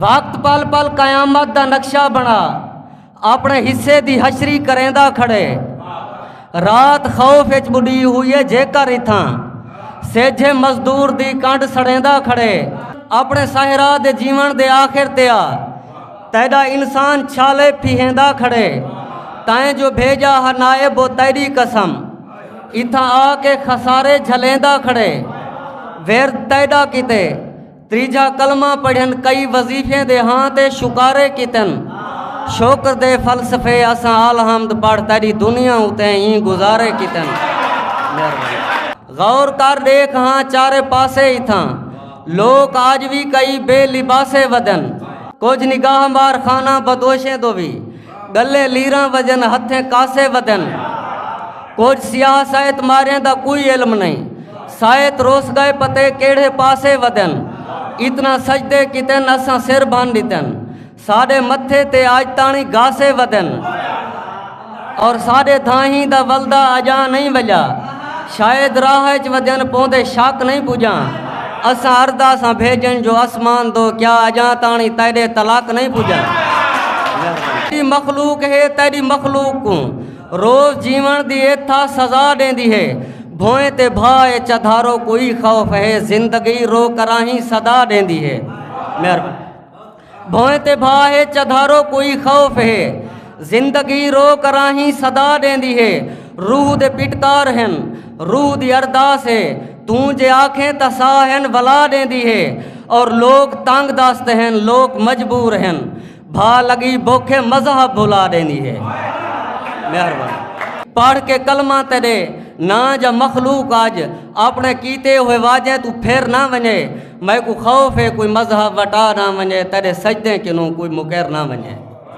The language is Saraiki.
وقت پل پل قیامت دا نقشہ بنا اپنے حصے دی حشری کریندا کھڑے رات خوف اچ بڈی ہوئی ہے جے کر اتھاں سیجھے مزدور دی کانڈ سڑیندا کھڑے اپنے صحرا دے جیون دے آخر تیا تیڈا انسان چھالے پھیندا کھڑے تائیں جو بھیجا ہا نائب و تیری قسم اتھاں آ کے خسارے جھلیندا کھڑے ورد تیڈا کیتے تریجھا کلمہ پڑھن کئی وظیفیں دے ہاں تے شکارے کیتن شکر دے فلسفے اساں آلحمد پڑھ تیری دنیا اتے ایں گزارے کیتن غور کر دیکھ ہاں چارے پاسے اتھاں لوک آج بھی کئی بے لباسے ودن کچھ نگاہ مار خانہ بدوشیں دو بھی گلے لیراں وجن ہتھیں کاسے ودن کچھ سیاہ سائت ماریں دا کوئی علم نہیں سائت روس گئے پتے کیڑھے پاسے ودن اتنا سجدے کتن اساں سر بھن دیتن ساڑے متھے تے آج تانی گاسے ودن اور ساڑے دھاہیں دا ولدہ اجاں نہیں وجا شاید راہ اچ ودیاں پوندے شک نئیں پجاں اساں اردا ساں بھیجن جو اسمان دو کیا اجاں تاݨی تیڈے تلک نئیں پجاں تیڈی مخلوق ہے تیڈی مخلوق کوں روز جیون دی ایتھا سزا ڈیندی ہے بھوئیں تے بھا اے چدھارو کوئی خوف ہے زندگی رو کراہیں صدا ڈیندی ہے مہربانی بھوئیں تے بھا ہے چدھارو کوئی خوف ہے زندگی رو کراہیں صدا ڈیندی ہے روح دے پٹکار ہن روح دی ارداس ہے توں جے آکھیں تا سا ہن ولا ڈیندی ہے اور لوگ تنگ دست ہن لوگ مجبور ہن بھا لگی بوکھے مذہب بھلا ڈیندی ہے مہربان پڑھ کے کلمہ تیرے نا جا مخلوق آج اپنے کیتے ہوئے واجیں تو پھر نہ ونے میکوں خوف ہے کوئی مذہب وٹا نہ ونجے تیرے سجدیں کنوں کوئی مکر نہ ونجے